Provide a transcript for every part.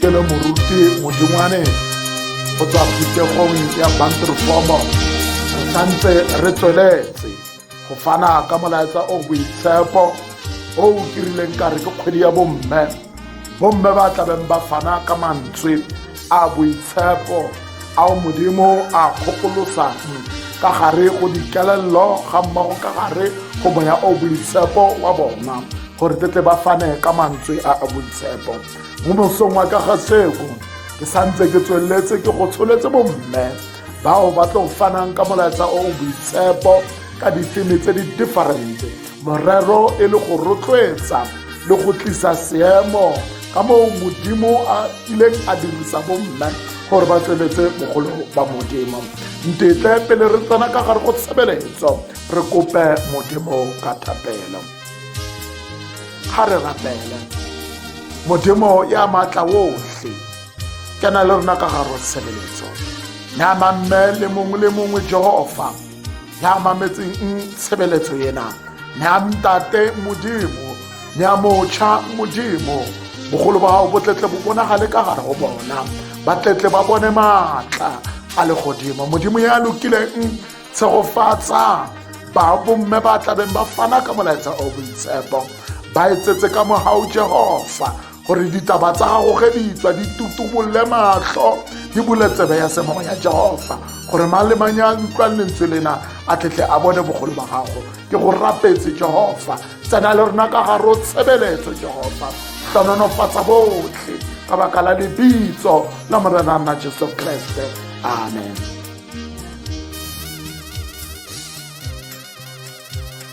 ke le moruti modingwane go tswa phuthegong ya banterefomo re santse re tsweletse go fana ka molaetsa o boitshepo o o kirileng ka re ke kgwedi ya bomme bomme ba tlabeng ba fana ka mantswe a boitshepo a o modimo a kgokolosang ka gare go dikelello ga mmogo ka gare go moya o boitshepo wa bona gore tetle ba fane ka mantswe a a boitshepo mo mosong wa ka ga seko ke santse ke tsweletse ke go tsholetse bomme bao ba tlo fanang ka molaetsa o o boitshepo ka difeme tse di differente morero e le go rotloetsa le go tlisa seemo ka moo modimo a ileng a dirisa bomme gore ba tsweletse bogolo ba modimo ntetle pele re tsena ka gare go tshebeletso re kope modimo ka thapelo ga re rapele modimo ya maatla otlhe ke na le rona ka garo tshebeletso ya mamme le mongwe le mongwe jehova ya mametseng tshebeletso ena ya ntate modimo ya motšha modimo bogolo ba gago botletle bo bonagale ka gare go bona batletle ba bone maatla a legodimo modimo ya lokileng tshegofatsa ba bomme ba tlabeng ba fana ka molaetsa o boitshepo ba etsetse ka mogao jehofa gore ditaba tsa gago ge di tswa di tutubolle matlho di bule tsebe ya semogo ya jehofa gore mang le mang ya utlwang lentswe lena a tletle a bone bogolo ba gago ke go rapetse jehofa tsena le rona ka gare o tshebeletso jehofa tlononofatsa botlhe ka baka la lebitso la morena nna jesu kreste amen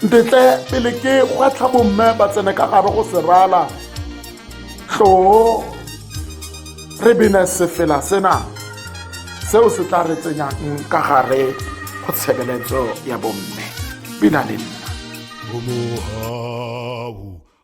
ntetle pele ke gwatlha bomme ba tsene ka gare go serala tloo re bene sefela sena seo se tla re tsenyang ka gare go tshebeletso ya bomme bina le nna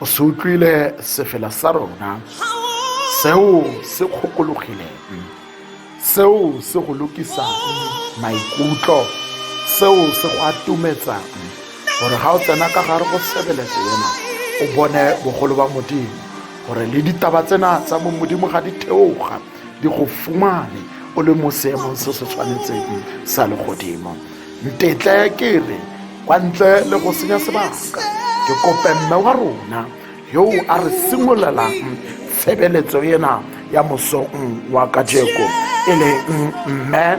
o se utlwile sefela sa rona seo se kgokologileng seo se go lokisang maikutlo seo se go atumetsang gore ga o tsena ka gare go sebeletse ena o bone bogolo ba modimo gore le ditaba tsena tsa bo modimo ga di theoga di go fumane o le mo seemong se se tshwanetseng sa legodimo ntetle ke re kwa ntle le go senya sebaka ke kope mme wa rona yo a re simololang tshebeletso ena ya mosong wa kajeko e leng mme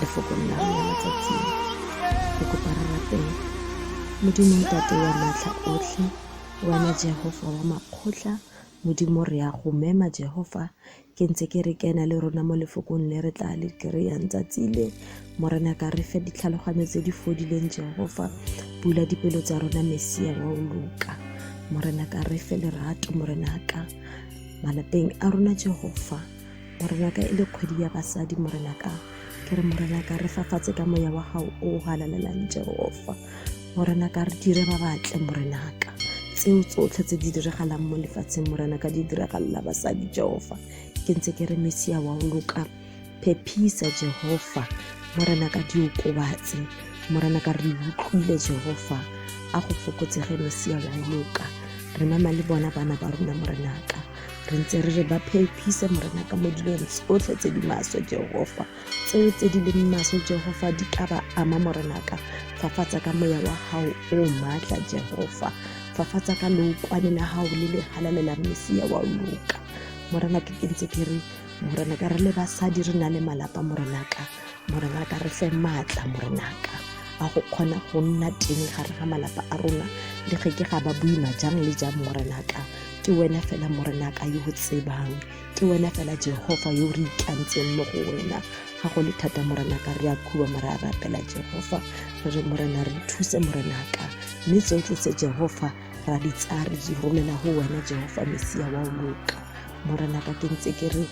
lefokong la rona matsatsing re kopa re rapela modimo ntate wa matlha otlhe wena jehova wa makgotla modimo re ya go mema jehova ke ntse ke re kena le rona mo lefokong le re tla le kry-ang tsatsi le morena ka re fe ditlhaloganyo tse di fodileng jehova bula dipelo tsa rona mesia wa o loka morena ka re fe lerato morena ka malapeng a rona jehova Morenaka e le kgwedi ya basadi morenaka ke re morenaka re fafatse ka moya wa gago o o galalelang jehofa morenaka re dire ba batle morenaka tseo tsotlhe tse di diragalang mo lefatsheng morenaka di diragalela basadi jehofa ke ntse ke re mesia wa o loka phephisa jehofa morenaka di okobatse morenaka re utlwile jehofa a go fokotsege mesia wa o loka re mama le bona bana ba rona morenaka re ntse re re ba phepise morena ka mo dilong tsotlhe tse di maswe jehofa tseo tse di leng maswe jehofa di ka ba ama morenaka fafatsa ka moya wa gago o maatla jehofa fafatsa ka lookwane la gago le le halalela mesia wa loka morena ke ntse ke re morena ka re le basadi re na le malapa morena ka morena ka re fe maatla morena ka a go kgona go nna teng gare ga malapa a rona le ge ke ga ba boima jang le jang morena ka ke wena fela morena ka yo tsebang ke wena fela jehova yo re itlantseng mo go wena ga go le thata morena ka re a khuba mara a rapela jehova re re morena re thuse morena ka mme tsotlhe tse jehova ra di tsaya re di romela go wena jehova mesia wa loka morena ka ke ntse ke re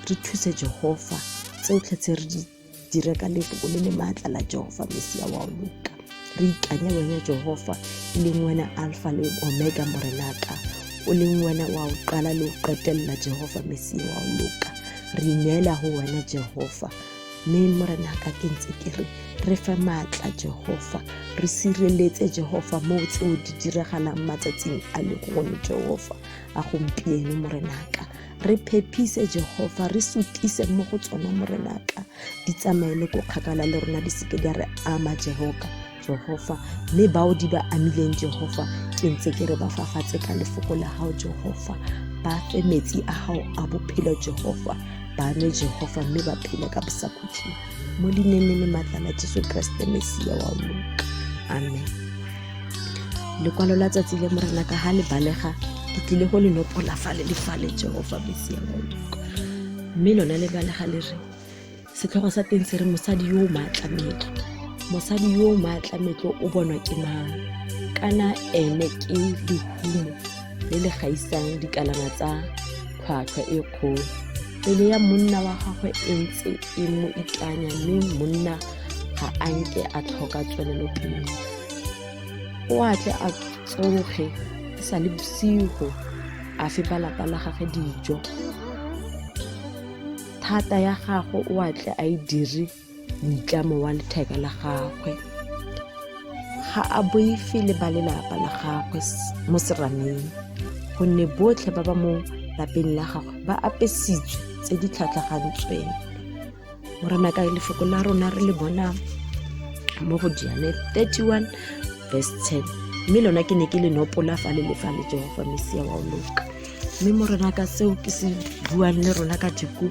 re thuse jehova tsotlhe tse re di dira ka lefoko le le maatla la jehofa mesia wa o loka re ikanya wena jehofa e leng wena alfa le omega morenaka o leng wena wa o qala le o qetelela jehofa mesia wa o loka re ineela go wena jehofa mme morenaka ke ntse ke re re fe maatla jehofa re sireletse jehofa moo tseo di diragalang matsatsing a le gone jehofa a gompieno morenaka re phephise jehofa re sutise mo go tsona morenaka di tsamaye le ko kgakala le rona di seke di a re ama jehoka jehofa mme bao di ba amileng jehofa ke ntse ke re ba fafatse ka lefoko la gago jehofa ba fe metsi a gago a bophelo jehofa ba nwe jehofa mme ba phele ka bosakhutlhing mo lineneng le maatla la jesu keresete mesia wa loka amen lekwalo la tsatsi le morena ka ga le balega ke tlile go le nopola fa le le faletseng go fa mesia modiko mme lone le balega le re setlhogo sa teng se re mosadi yo o maatlametlo mosadi yo o maatlametlo o bonwa ke mang kana ene ke lehumo le le gaisang dikalana tsa tlhwatlhwa e kgolo pele ya monna wa gagwe e ntse e mo itlanya mme monna ga a nke a tlhoka tswelelopele o a tle a tsoge e sa le bosigo a fe ba lapa la gage dijo thata ya gagwe o a tle a e dire moitlamo wa letheka la gagwe ga a boife le ba lelapa la gagwe mo serameng gonne botlhe ba ba mo lapeng la gagwe ba apesitswe tse di tlhatlhagantsweng morena ka lefoko la rona re le bona mo go diane 31 verse 10 mme lona ke ne ke le nopola fa le lefa le jehofa mesia wa o loka mme morena ka seo ke se buang le rona ka diko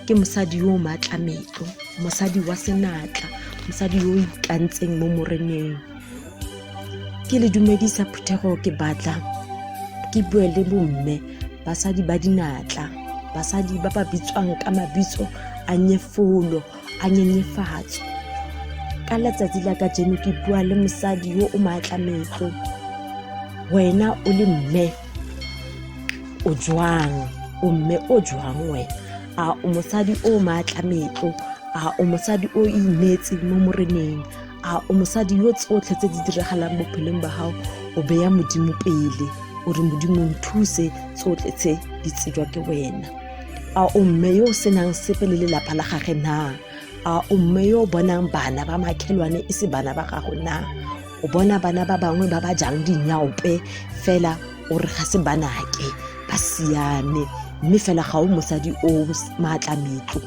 ke mosadi yo o maatla metlo mosadi wa senatla mosadi yo o ikantseng mo moreneng ke le dumedisa phuthego ke batla ke bue le bomme basadi ba dinatla basadi ba ba bitswang ka mabitso a nyefolo a nyenyefatso ka letsatsi la ka jeno ke bua le mosadi yo o maatla metlo wena o le mme o jwang o mme o jwang wena a o mosadi o maatla metlo a o mosadi o ineetseng mo moreneng a o mosadi yo tsotlhe tse di diragalang bophelong ba gago o beya modimo pele o re modimo nthuse tsotlhe tse di tsejwa ke wena a o mme yo o senang sepe le lelapa la gage na a o mme yo o bonang bana ba makhelwane e se bana ba gago na o bona bana ba bangwe ba ba jang dinyaope fela o re ga se banake ba siame mme fela ga o mosadi o maatla metlo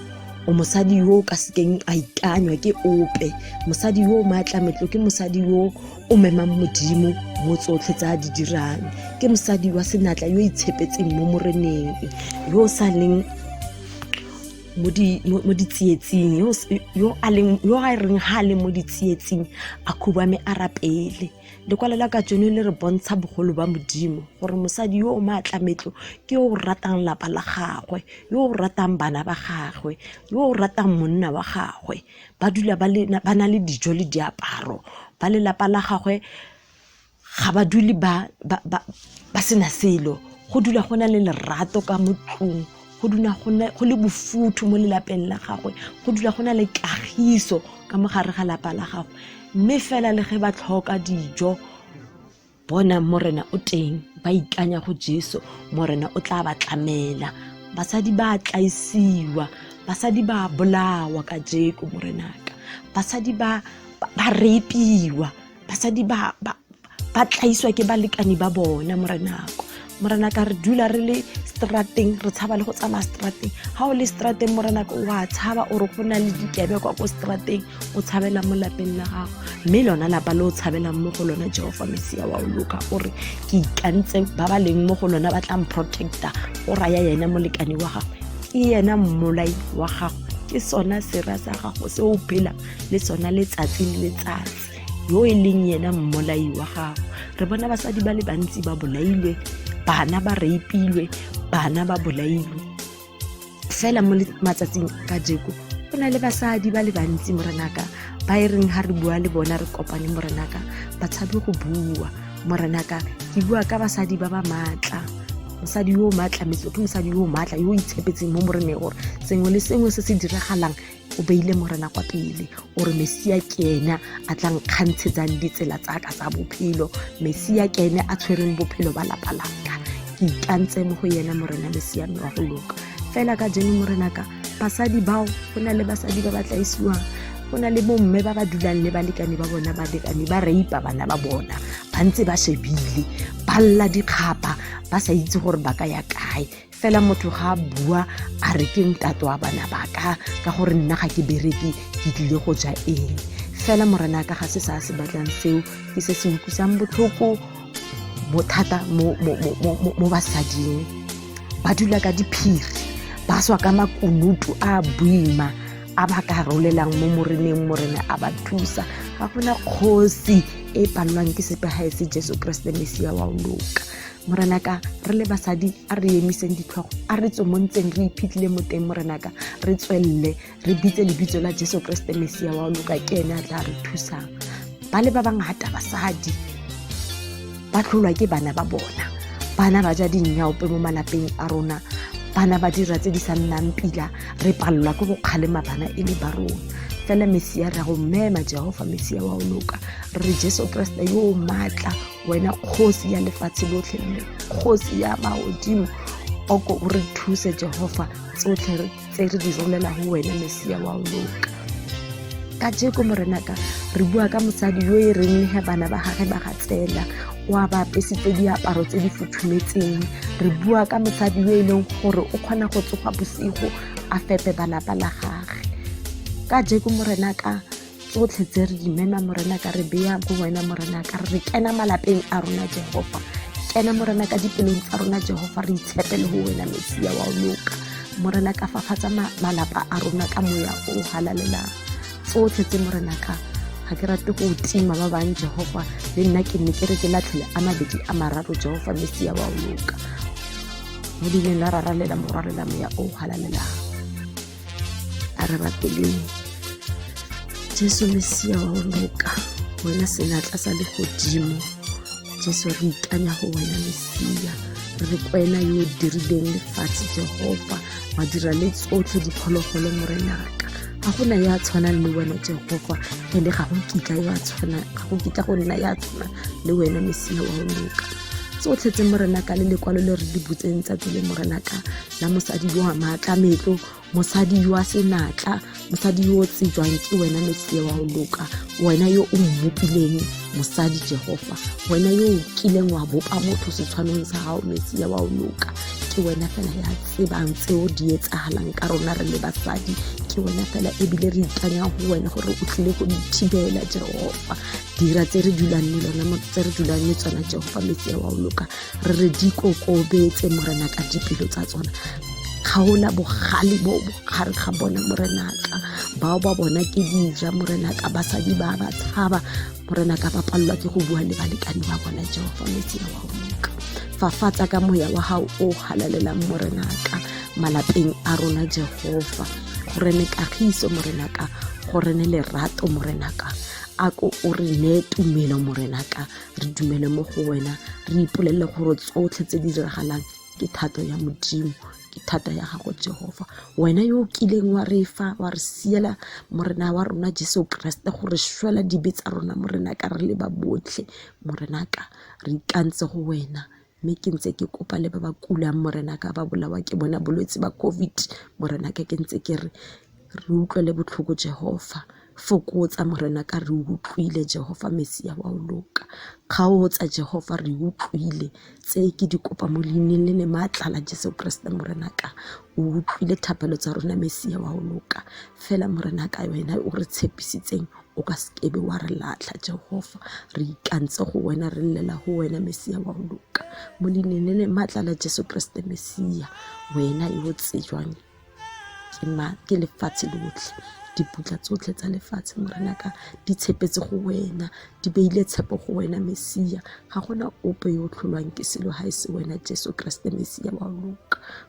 o mosadi yo o ka sekeng a ikanywa ke ope mosadi yo o maatla metlo ke mosadi yo o memang modimo mo tsotlhe tse a di dirang ke mosadi wa senatla yo itshepetseng mo moreneng yo o sa leng mo di mo mo ditsietsing yo s- yo a leng yo a reng ha a le mo ditsietsing a khubame a rapele lekwalo la ka tsone le re bontsha bogolo ba modimo gore mosadi yo o maatlametlo ke yo o ratang lapa la gagwe yo o ratang bana ba gagwe yo o ratang monna wa gagwe ba dula ba le- ba na le dijo le diaparo ba lelapa la gagwe ga ba dule ba sena selo go dula go na le lerato ka mo tlong go dula go le bofuthu mo lelapeng la gagwe go dula go na le kagiso ka mo gare ga lapa la gagwe mme fela le ge ba tlhoka dijo bona morena o teng ba ikanya go jesu morena o tla ba tlamela basadi ba tlaisiwa basadi ba bolawa ka jeko morenaka basadi ba repiwa basadi ba ba ba tlaiswa ke balekane ba bona morenako morenaka re dula re le strateng re tshaba le go tsamaya strateng ga o le strateng morenaka o a tshaba ore go na le dikebe kwa ko strateng o tshabelang mo lapeng la gago mme lona lapa le o tshabelang mo go lona jehofa mesia wa o loka ore ke ikantse ba ba leng mo go lona ba tlang protecta o raya yena molekane wa gago ke yena mmolai wa gago ke sona sera sa gago se o phelang le sona letsatsi le letsatsi yo e leng yena mmolai wa gago re bona basadi ba le bantsi ba bolailwe bana ba reipilwe bana ba bolailwe fela mo matsatsing ka jeko go na le basadi ba le bantsi morenaka ba e reng ga re bua le bona re kopane morenaka ba tshabe go bua morenaka ke bua ka basadi ba ba maatla mosadi yo o maatlametse ke mosadi yo o maatla yo o itshepetseng mo moreneng gore sengwe le sengwe se se diragalang o beile morena kwa pele o re mesia ke ene a tla nkgantshetsang ditsela tsa ka tsa bophelo mesia ke ene a tshwereng bophelo ba lapa laka ke ikantse mo go yena morena mesia mme wa go loka fela ka jeno morena ka basadi bao go na le basadi ba ba tlaisiwang go na le bomme ba ba dulang le balekane ba bona balekane ba reipa bana ba bona ba ntse ba shebile ba lla dikgapa ba sa itse gore ba ka ya kae fela motho ga a bua a re ke ntate wa bana ba ka ka gore nna ga ke bereke ke tlile go ja eng fela morena ka ga se sa se batlang seo ke se se utlwisang botlhoko bothata mo, mo, mo, mo, mo, mo basading ba dula ka diphiri ba swa ka makunutu a boima a ba ka rolelang mo moreneng morena a ba thusa ga gona kgosi e palelwang ke sepegae se jesu keresete mesia wa o loka morenaka re le basadi a re emiseng ditlhogo a re tswe mo ntseng re iphitlhile mo teng morenaka re tswelele re bitse lebitso la jesu keresete mesia wa loka ke ene a tla re thusang ba le ba bangata basadi ba tlholwa ke bana ba bona bana ba ja dinnyaope mo malapeng a rona bana ba dira tse di sa nnang pila re palelwa ke go kgalema bana e le ba rona fela mesia re ya go mmema jehofa mesia wa o loka re jesu keresete yo o maatla wena kgosi ya lefatshe lotlhe mme kgosi ya maodimo oko o re thuse jehofa tsotlhe tse re di rolela go wena mesia wa o loka ka jeko morenaka re bua ka mosadi yo e reng ga bana ba gage ba ga tsela o a ba apesitse diaparo tse di futhumetseng re bua ka mosadi yo e leng gore o kgona go tsoga bosigo a fepe balapa la gage ka jeko morenaka tsotlhe tse re imema morena ka re beya go wena morena ka re kena malapeng a rona jehova kena morena ka dipelong tsa rona jehova re itshepele go wena mesia wa o loka morena ka fafatsa malapa a rona ka moya o halalelang tsotlhe tse morena ka ga ke rate go tima ba bang jehova le nna ke nne ke re ke latlhele a mabedi a mararo jehova mesia wa o loka mo dileng la raralela morwalela moya o halalelang araba pele jesu mesia wa go loka wena senatla sa legodimo jesu re ikanya go wena mesia re kwena yo o dirileng lefatshe jehova wa dira le tsotlhe diphologolo morenaka ga go na yo a tshwanang le wena jehova ene ga go kitla yo a tshwana ga go kitla go nna ya tshwana le wena mesia wa go loka tsotlhe tse morenaka le lekwalo le re di butseng tsatsi le morenaka la mosadi yo wa maatla metlo mosadi yo a senatla mosadi yo o tsejwang ke wena mesie wa go loka wena yo o mmopileng mosadi jehofa wena yo o kileng wa bopa motho setshwanong sa gago mesie wa go loka ke wena fela ya tsebang tseo di etsagalang ka rona re le basadi ke wena fela ebile re ikanya go wena gore o tlile go dithibela jehofa dira tse re dulang le lona tse re dulang le tsona jehofa mesie wa go loka re re di kokobetse morena ka dipelo tsa tsona kgaola bogale bo bogare ga bona morenaka bao ba bona ke dija morenaka basadi ba ba tshaba morenaka ba palelwa ke go bua le balekane ba bona jehofa metsela wa moka fafatsa ka moya wa gago o galalelang morenaka malapeng a rona jehofa gore ne kagiso morenaka gore ne lerato morenaka a ko o re neye tumelo morenaka re dumele mo go wena re ipolelele gore tsotlhe tse di diragalang ke thato ya modimo ke thata ya gago jehofa wena yo o kileng wa re fa wa re siela morena wa rona jesu keresete gore swela dibe tsa rona morena ka re le ba botlhe morena ka re ikantse go wena Mme ke ntse ke kopa le ba ba kulang Morena ka ba bolawa ke bona bolwetse ba COVID. Morena ka ke ntse ke re re utlwele botlhoko Jehofa. Fokotsa Morena ka re utlwile Jehofa Mesia wa o loka. Kgaotsa Jehofa re utlwile tse ke di kopa mo leineng le le maatla la Jesu Keresete Morena ka. O utlwile thapelo tsa rona Mesia wa o loka. Fela Morena ka wena o re tshepisitseng o ka sekebe wa re latlha jehofa re ikantse go wena re llela go wena mesia wa go loka mo leinene le maatla la jesu keresete mesia wena yo o tsejwang ke ma ke lefatshe lotlhe diputla tsotlhe tsa lefatshe morena ka di tshepetse go wena di beile tshepo go wena mesia ga gona ope yo o tlholwang ke selo ga e se wena jesu keresete mesia wa loka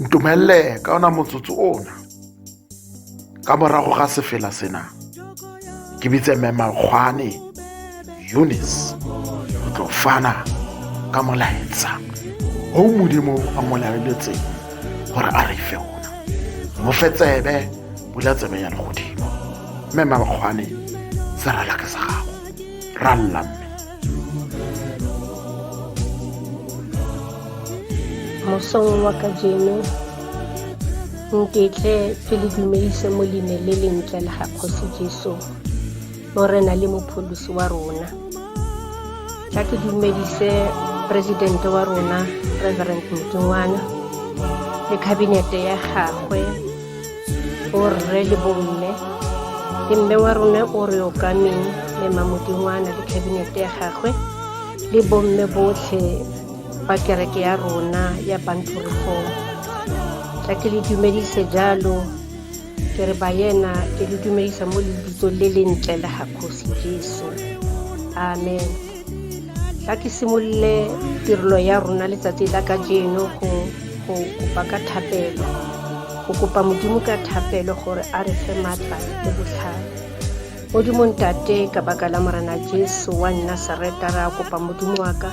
ntumelele ka ona motsotso ona ka morago ga sefela sena ke bitse mme makgwane eunice o tlo fana ka molaetsa o modimo a mo laeletseng gore a re fe ona mo fe tsebe bula tsebe ya legodimo mme mabakgwane se rala ka sa gago ralla mme mosong wa ka jeno nketle ke le dumelise mo leine le lentle la ga kgosi jesu morena le mopholosi wa rona tla ke dumedise presidente wa rona reverend mokingwana le khabinete ya gagwe o rre le bomme le mme wa rona o re okameng le mamodingwana le khabinete ya gagwe le bomme botlhe ba kereke ya rona ya bantorefong tla ke le dumedise jalo ke re ba yena ke le dumedisa mo lebitsong le le ntle le ga kgosi jesu amen ka ke simolole tirelo ya rona letsatsi la ka jeno go kopa ka thapelo go kopa modimo ka thapelo gore a re fe maatla le botlhale modimo ntate ka baka la morena jesu wa nna sereta ra kopa modimo wa ka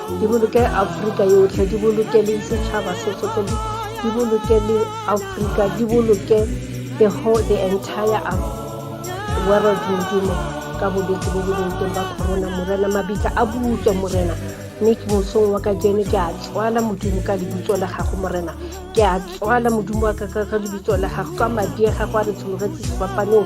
di boloke aforika yotlhe di boloke le setšhaba se sotlhe di boloke le aforika di boloke the whole the entire world modimo ka bolwetse bo bo leng teng ba corona morena mabitla a butswe morena mme ke mosong wa ka jene ke a tswala modimo ka lebitso la gago morena ke a tswala modimo wa ka ka lebitso la gago ka madi a gago a re tshologetse sefapaneng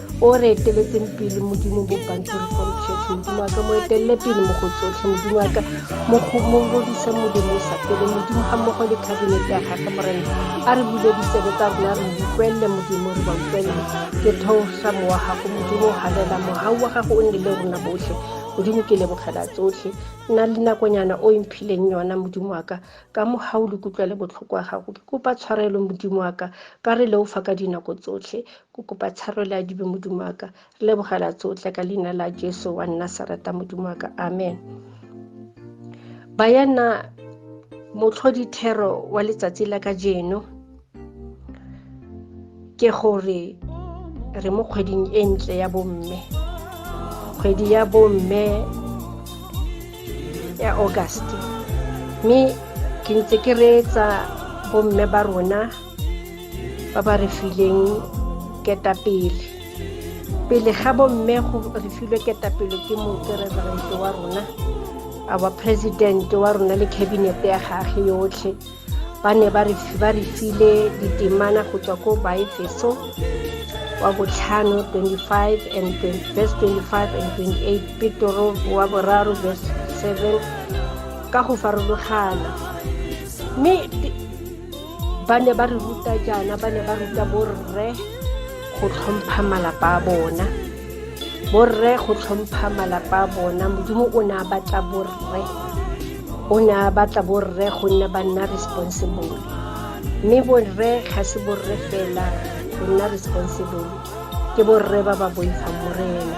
o re eteletseng pele modimo bo bantori from church modimo wa ka mo etelele pele mo go tsotlhe modimo wa ka mo godise modimo sa pele modimo ga mmogo le cabinet ya gage morena a re bule ditsebe tsa rona re utlwelele modimo re ba utlwelele ke theosa mowa gago modimo o galela mogau wa gago o nne le rona botlhe modimo ke lebogela tsotlhe nna le nakonyana o emphileng yona modimo wa ka ka mogau le kutlwa le botlhoko wa gago ke kopa tshwarelo modimo wa ka ka re leofa ka dinako tsotlhe Ko kopa tsharelo ya dibe modimo wa ka re lebogela tsotlhe ka leina la jesu wa nna sarata modimo wa ka amen bayana motlhodithero wa letsatsi la ka jeno ke gore re mo kgweding e ntle ya bomme kgwedi ya bomme ya august mme ke ntse ke reetsa bomme ba rona ba ba re fileng ketapele pele ga bomme go re filwe ketapele ke mokereverente wa rona our president wa rona le cabinet ya gage yotlhe ba ne ba re file ditemana go tswa ko baefeso wa botlhano 25 and 20, verse 25 and 28 petoro wa boraro verse 7 ka go farologana mme ba ne ba re ruta jaana ba ne ba ruta borre go tlhompha malapa a bona borre go tlhompha malapa a bona modimo o ne a batla borre o ne a batla borre gonne ba nna responsible mme borre ga se borre fela go nna responsible ke borre ba ba boifang morena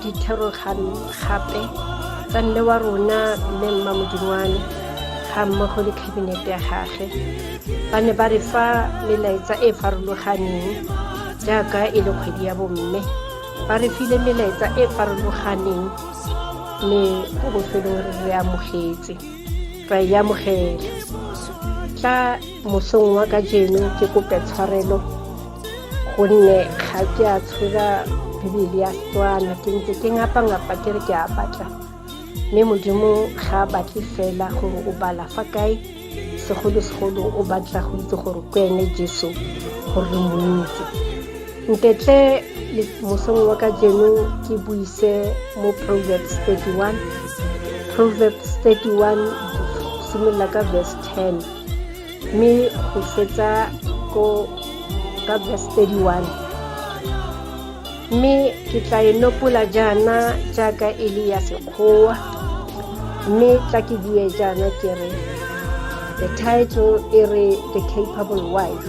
dithoroganyo gape tsa mme wa rona mme mma modingwane ga mmogo le khabinete ya gage ba ne ba re fa melaetsa e e farologaneng jaaka e le kgwedi ya bomme ba re file melaetsa e e farologaneng mme ko bofelong re re amogetse ra e amogela ka mosong wa ka jeno ke kope tshwarelo gonne ga ke a tshwera bibele ya setswana ke ntse ke ngapa-ngapa ke re ke a batla mme modimo ga a batle fela gore o bala fa kae segolo-segolo o batla go itse gore ke ene jesu gore re mo itse ntetle mosong wa ka jeno ke buise mo proverbs 31 proverbs 31 simolola ka verse 10 mme go fetsa ko ka verse 31 mme ke tla e nopola jaana jaaka e le ya sekgowa mme tla ke bue jaana ke re the title e re the capable wife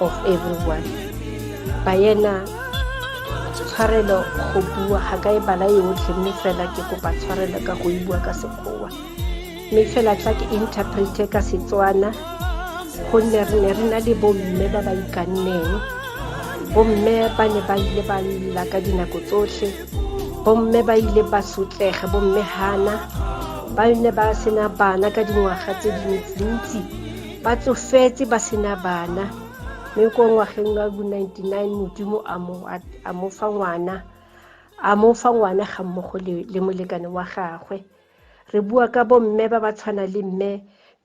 of everyone ba yena tshwarelo go bua ga ka e bala yotlhe mme fela ke kopa tshwarelo ka go e bua ka sekgowa mme fela tla ke interprete ka setswana gonne re ne re na le bomme ba ba ikanneng bomme ba ne ba ile ba lla ka dinako tsotlhe bomme ba ile ba sotlege bomme hana ba ne ba sena bana ka dingwaga tse dintsi ba tsofetse ba sena bana mme ko ngwageng wa bo 99 modimo a mo fa ngwana a mo fa ngwana ga mmogo le molekane wa gagwe re bua ka bomme ba ba tshwana le mme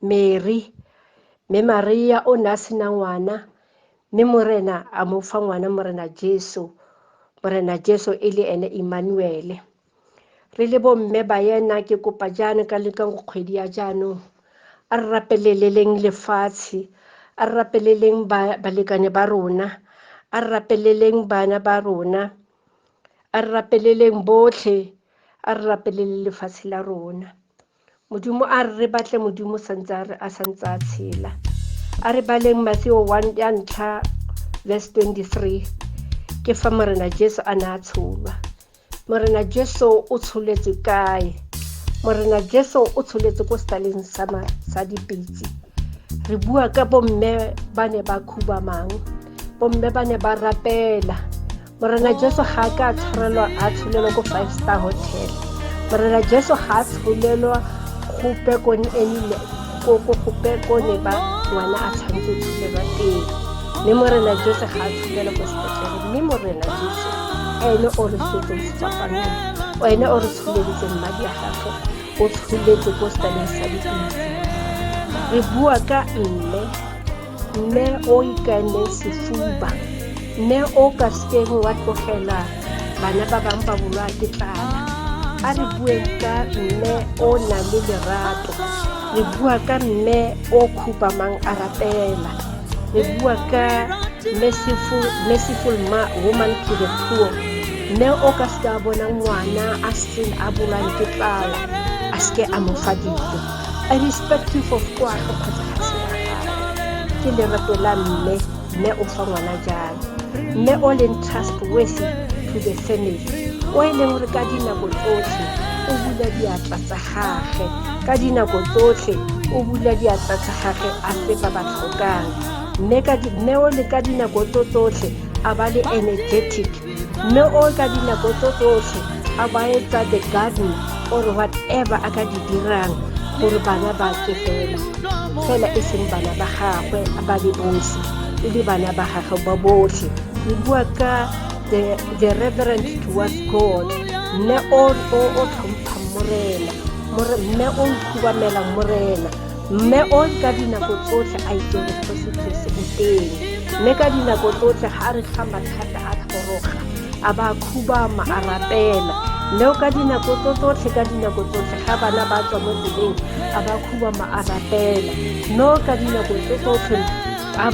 mary mme maria o ne a sena ngwana mme morena a mo fa ngwana morena jesu morena jesu e le ene emmanuele re le bomme ba yena ke kopa jaana ka leka go kgwedi ya jaanong a re rapeleleleng lefatshe a re rapeleleng balekane ba rona a re rapeleleng bana ba rona a re rapeleleng botlhe a re rapelele lefatshe la rona Modimo a re re batle Modimo santse a re a santse a tshela. A re baleng Matthew 1 ya ntlha verse 23 ke fa Morena Jesu a ne a tsholwa. Morena Jesu o tsholetswe kae? Morena Jesu o tsholetse ko setaleng sa sa dipitse. Re bua ka bomme ba ne ba khubamang, bomme ba ne ba rapela, morena jesu ga a ka a tshwarelwa a tsholelo ko five star hotel morena jesu ga a tsholelwa go pekone enile ko pekone ba ngwana a tshwanetse tsholelwa teng mme morena jesu ga a tsholelo ko sepetlele mme morena jesu ene o re setseng sefapaneng ene o re tsholeditseng madi a gagwe o tsholetse ko setaleng sa dipitse re bua ka mme mme o ikaele sefuba mme o ka sekeng wa tlogela bana ba bangwe ba bolwa ke tlala a re bueng ka mme o na le lerato re bua ka mme o khupamang a rapela re bua ka merciful, merciful ma, woman to the poor mme o ka seka bona ngwana a seng a bolwang ke tlala a seke a mo fa dijo I respect you for kwa go kgotsa ke lerato la mme mme o fa ngwana jalo mme o leng trustworthy to the family o e leng gore ka dinako tsotlhe o bula diatla tsa gage ka dinako tsotlhe o bula diatla tsa gage a fe ba ba tlhokang mme o le ka dinako tso tsotlhe a ba le energetic mme o ka dinako tso tsotlhe a ba etsa the garden or whatever a ka di dirang gore bana ba tswe fela fela e seng bana ba gagwe a ba le bosi e le bana ba gagwe ba botlhe re bua ka the, the reverend towards god mme o tlhompha morena mme o ikhubamelang morena mme o ka dinako tsotlhe a itse gore go setlhese o teng mme ka dinako tsotlhe ga a re ga mathata a tlhoroga a ba khubama a rapela mme o ka dinako tso tsotlhe ka dinako tsotlhe ga bana ba tswa mo tseleng a ba khubama a rapela mme o ka dinako tso tsotlhe a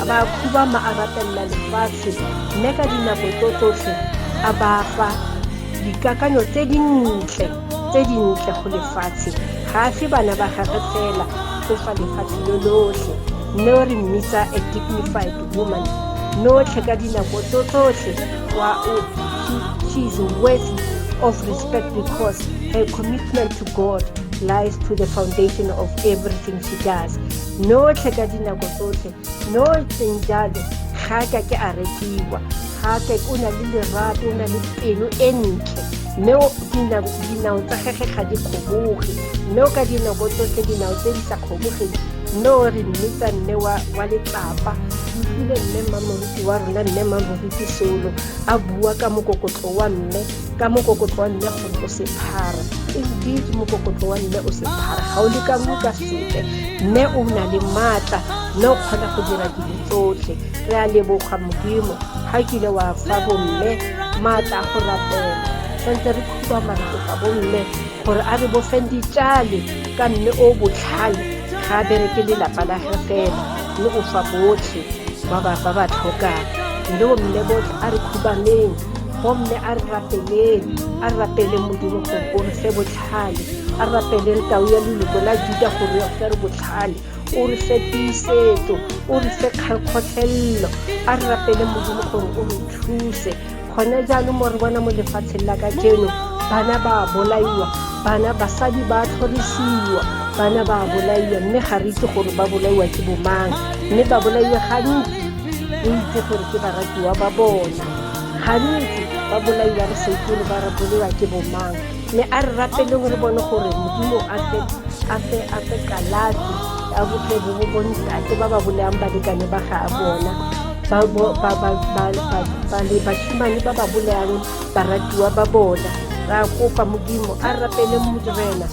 ba khubama a rapelela lefatshe mme ka dinako tso tsotlhe a ba fa dikakanyo tse dintle tse dintle go lefatshe ga a fe bana ba gage fela o fa lefatshe lo lotlhe mme o re mmitsa a dignified woman notlhe ka dinako tso tsotlhe wa o she is worthy of respect because her commitment to god lies to the foundation of everything she does notlhe ka dinako tsotlhe no seng jalo ga ka ke a rekiwa ga ka o na le lerato o na le pelo e ntle mme dinao tsa gage ga di kgoboge mme o ka dinako tsotlhe dinao tse di sa kgobogeng mme o re mmitsa mme wa letsapa mme mmamoruti wa rona mme mmamoruti solo a bua ka mokokotlo wa mme ka mokokotlo wa mme gore o sephara indeed mokokotlo wa mme o sephara ga o le ka mo ka sepe mme o na le maatla mme o kgona go dira dilo tsotlhe re a leboga modimo ga kile wa fa bomme maatla a go rapela santse re khuba marato fa bomme gore a re bofeng ditšale ka mme o botlhale ga a bereke lelapa la ge fela mme o fa botlhe ba ba tlhokang mme bomme botlhe a re khubaneng gomme a re rapeleng a rapele modimo gore o re fe botlhale a rapeleng tau ya leloko la juda gore re fe re botlhale o re fe tiisetso o re fe kgakgotlhelelo a re rapele modimo gore o re thuse gone jaanong mo re bona mo lefatsheng la ka jeno bana ba bolaiwa bana basadi ba tlhorisiwa bana ba bolaiwa mme ga re itse gore ba bolaiwa ke bomang mme ba bolaiwa gantsi re itse gore ke baratiwa ba bona gantsi ba bolai ba re seikere ba re bolewa ke bomang mme a re rapeleng re bone gore modimo a fe kalafi a botle bo bo bontate ba ba boleang balekane ba ga a bona basimane ba ba boleang baratiwa ba bona ra kopa modimo a rapele modimena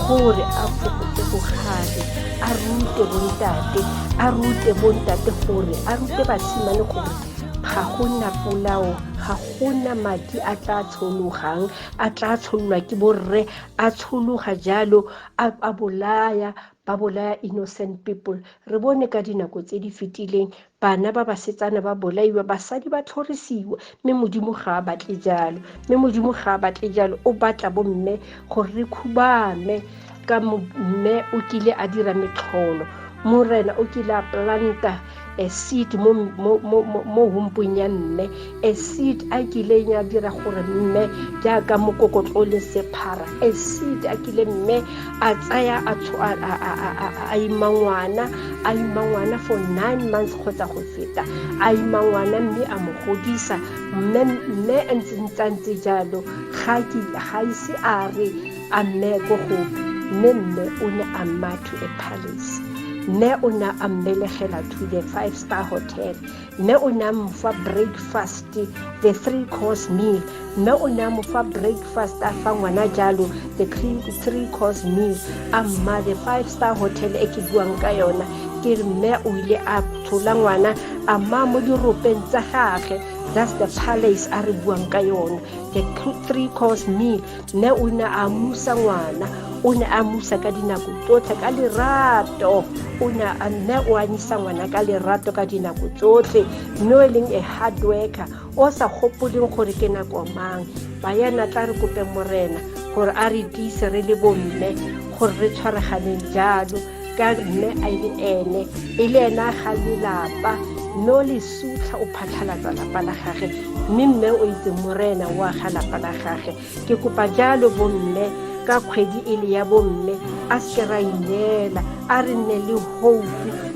gore a fokotse bogale a rute bontate a rute bontate gore a rute basimane gore ga go nna polao ga go na madi a tla tshologang a tla tshololwa ke borre a tshologa jalo a bolaya ba bolaya innocent people re bone ka dinako tse di fetileng bana ba basetsana ba bolaiwa basadi ba tlhorisiwa mme modimo ga a batle jalo mme modimo ga a batle jalo o batla bomme gore re khubame ka mme o kile a dira metlholo morena o kile a planta a seed mo mo mo mo humpong ya mme a seed a kileng ya dira gore mme jaaka mokokotlo le sephara a seed a kile mme a tsaya a a ima ngwana a ima ngwana for nine months kgotsa go feta a ima ngwana mme a mo godisa mme mme a ntse ntse jalo ga ise a re a mme ko gope mme mme o ne a mma to a palace mme o ne a mmelegela to the five star hotel mme o ne a mofa breakfast the three course meal mme o ne a mofa breakfast a fa ngwana jalo the three course meal a mma the five star hotel e ke buang ka yona ke re mme o ile a tshola ngwana a mma mo diropeng tsa gage that's the palace a re buang ka yone the three course meal ne o ne a musa ngwana o ne a musa ka dinako tsotlhe ka lerato o ne a mme o anyisa ngwana ka lerato ka dinako tsotlhe mme o e leng a hard worker o sa gopoleng gore ke nako mang ba yana tla re kope morena gore a re tiise re le bomme gore re tshwaraganeng jalo ka mme a e le ene e le ena ga lelapa mme o le sutlha o phatlhalatsa lapa la gage mme mme o itse morena o aga lapa la gage ke kopa jalo bomme ka kgwedi e le ya bomme a seke ra ineela a re nne le hope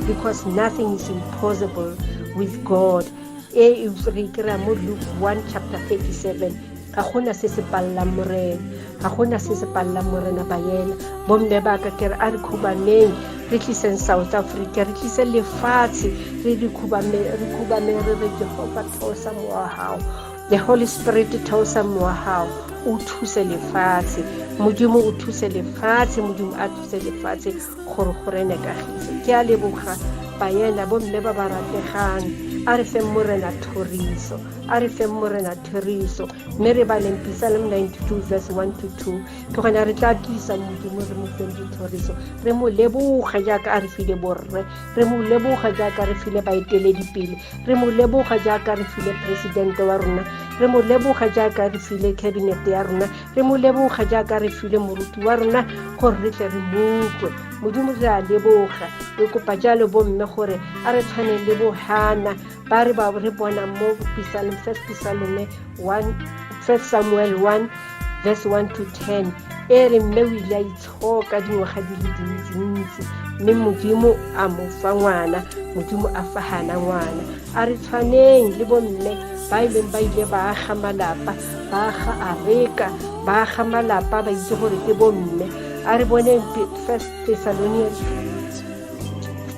because nothing is impossible with god e re kry-a mo luke 1 chapter 37 ga gona se se palelang morena ga gona se se palelang morena ba yena bomme ba ka kere a re khubaneng re tliseng south africa re tlise lefatshe re re khubame re re jehova theosa mowa gago the holy spirit theosa mowa gago o thuse lefatshe modimo o thuse lefatshe modimo a thuse lefatshe gore go rene kagiso ke a leboga bayena bomme ba ba rategang a re feng morena thoriso a re feng morena theriso mme re baleng pisalem 92 verse 1 to 2 ke gona re tla tlisa modimo re mo feng dithoriso re mo leboga jaaka a re file borre re mo leboga jaaka re file baeteledipele re mo leboga jaaka re file presidente wa rona re mo leboga jaaka re file cabinet ya rona re mo leboga jaaka re file moruti wa rona gore re tle re mokwe modimo re a leboga re kopa jalo bomme gore a re tshwaneng le bohana ba re ba re bonang mo pisalong first pisalome first samuel 1 verse 1 to 10 e re mme o ile a itshoka dingwaga di le dintsintsi mme modimo a mo fa ngwana modimo a fa gana ngwana a re tshwaneng le bomme ba e leng ba ile ba aga malapa ba aga areka ba aga malapa ba itse gore ke bomme a re boneng first thessalonians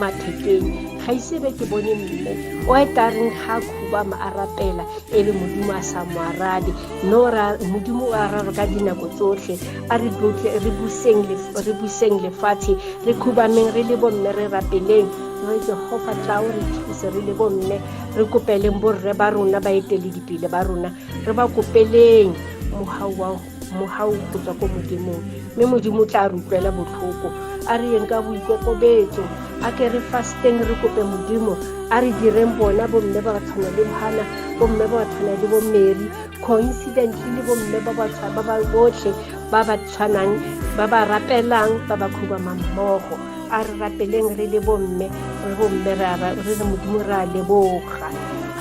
mathekeng ga ise be ke bone mme o e ka reng ga a khuba mo a rapela e le modimo a sa mo arabe mme modimo o araro ka dinako tsotlhe a re buseng lefatshe re khubameng re le bomme re rapeleng re jehofa tla o re thuse re le bomme re kopeleng borre ba rona baeteledipele ba rona re ba kopeleng mohau wa mogau go tswa ko modimong mme modimo o tla re utlwela botlhoko a re yeng ka boikokobetso a ke re fasteng re kope modimo a re direng bona bomme ba ba tshwana le bohana bomme ba ba tshwana le bomary coincidently le bomme ba ba botlhe ba ba tshwanang ba ba rapelang ba ba khubamang mmogo a re rapeleng re le bomme re bomme re re modimo re a leboga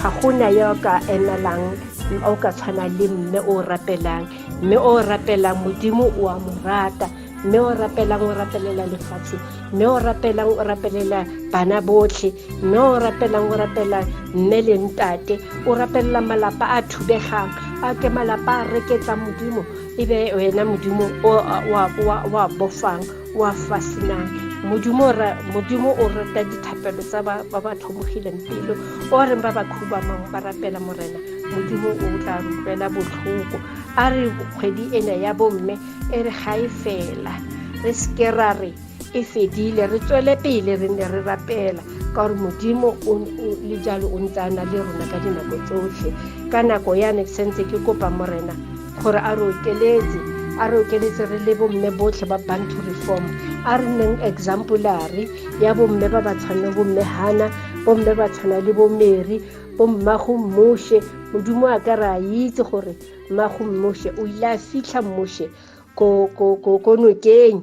ga go na yo ka emelang o ka tshwana le mme o o rapelang mme o o rapelang modimo o a mo rata mme o rapelang o rapelela lefatshe mme o rapelang o rapelela bana botlhe mme o rapelang o rapela mme le ntate o rapelela malapa a thubegang a ke malapa a reketsa modimo e be wena modimo o a bofang wa fasinang modimo modimo o rata dithapelo tsa ba ba tlhomogileng pelo o reng ba ba khubamang ba rapela morena modimo o tla rutlela botlhoko a re kgwedi ena ya bomme e re ga e fela re seke ra re e fedile re tswele pele re ne re rapela ka gore modimo le jalo o ntse a na le rona ka dinako tsotlhe ka nako yane sentse ke kopa morena gore a re okeletse a re okeletse re le bomme botlhe ba bantu reform a re neng exemplary ya bomme ba ba tshwanang bomme hana bomme ba tshwana le bomeri bommago mmoshe modimo a ka re a itse gore mmago mmoshe o ile a fitlha mmoshe ko nokeng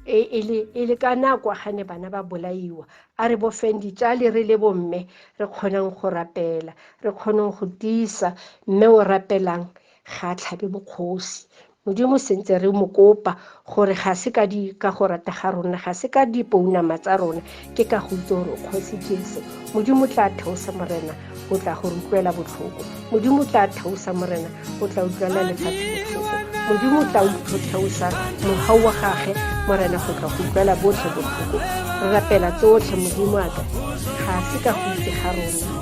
e, e, e le ka nako ga ne bana ba bolaiwa a re bofeng ditsale re le bomme re kgonang go rapela re kgonang go tiisa mme o rapelang ga a tlhabe bokgosi modimo sentse re mo kopa gore ga se ka di ka go rata ga rona ga se ka dipounama tsa rona ke ka go itse gore o kgosi jesu modimo tla theosa morena o tla go utlwela botlhoko modimo tla theosa morena o tla utlwela lefatshe botlhoko modimo tla utlo theosa mogau wa gage morena go tla go utlwela botlhe botlhoko re rapela tsotlhe modimo aka ga se ka go itse ga rona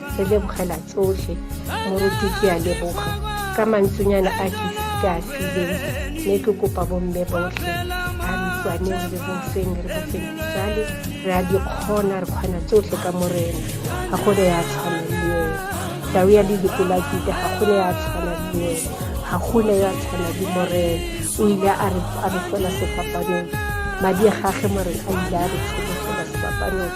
re lebogela tsotlhe moruti ke a leboga ka mantsonyana a ke ke a fileng mme ke kopa bomme botlhe a ntswaneng re bofeng re bofeng jale re a dikgona re kgona tsotlhe ka morena ga go re ya tshwana le ene tau ya ledikolakite ga go ne ya tshwana le ene ga go ne ya tshwana le morena o ile a re fela sefapanong madi a gage morena a ile a re tsholofela sefapanong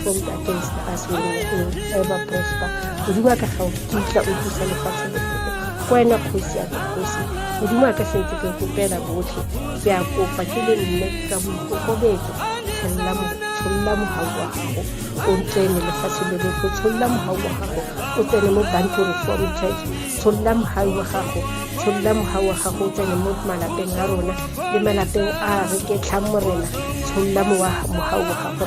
tlonka against us we will ever prosper modimo a ka ga o kitla o thusa lefatshe botlhoko ko wena kgosi ya kgosi modimo a ka sentse ke kopela botlhe ke a kopa ke le nne ka boikokobetso tsholola tsholola mogau wa gago o tsene lefatshe le lotlhe tsholola mogau wa gago o tsene mo bantu reform church tsholola mogau wa gago tsholola mogau wa gago o tsene mo malapeng a rona le malapeng a re ke tlhang morena tsholola mogau wa gago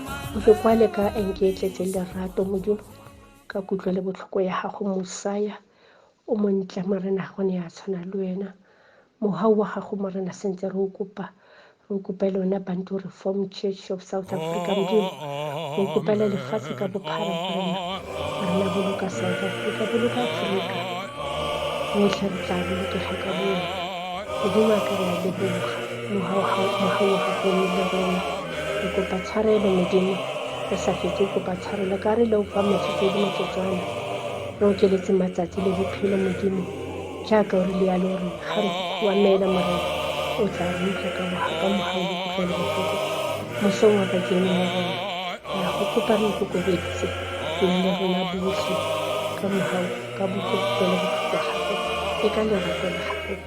o ke kwale ka enke e tletse lerato modimo ka kutlwa le botlhoko ya gago mosaya o montle morena go ne ya tshwana le wena mohau wa gago morena sentse re o kopa re kopele ona bantu reform church of south africa modimo re kopele lefatshe ka bophara morena rena boloka south africa boloka afrika rotlhe re tla bolokega ka boyena modimo a ka re a leboga kopa tshwarelo modimo o sa fetse o kopa tshwarelo ka re le o fa metsotsodi motsotswana re okeletse matsatsi le bophelo modimo jaaka o re le yalo gore ga re wa meela morena o tla re utlwa ka boga ka moga o bokutlwa le botlhoko mosong wa ka ke ene wa rona ya go kopa re ikokobeditse le le rona botlhe ka moga ka bokutlwa le botlhoko gago e ka lerato la gago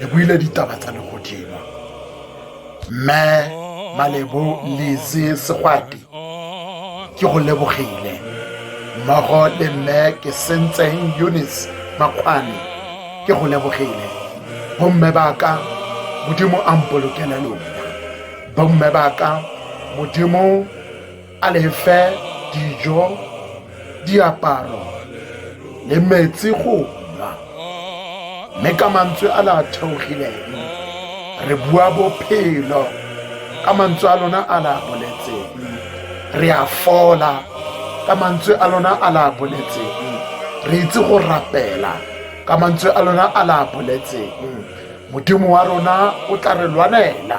re buile ditaba tsa legodimo mme malebo leze segwati ke go lebogile mmogo le mme ke sentseng eunice makgwane ke go lebogile bomme ba ka modimo a mpolokele lona bomme ba ka modimo a lefe dijo diaparo le metsi go nwa mme ka mantswe a la theogileng re bua bophelo ka mantswe a lona a la boletseng re a fola ka mantswe a lona a la boletseng re itse go rapela ka mantswe a lona a la boletseng modimo wa rona o tla re lwanela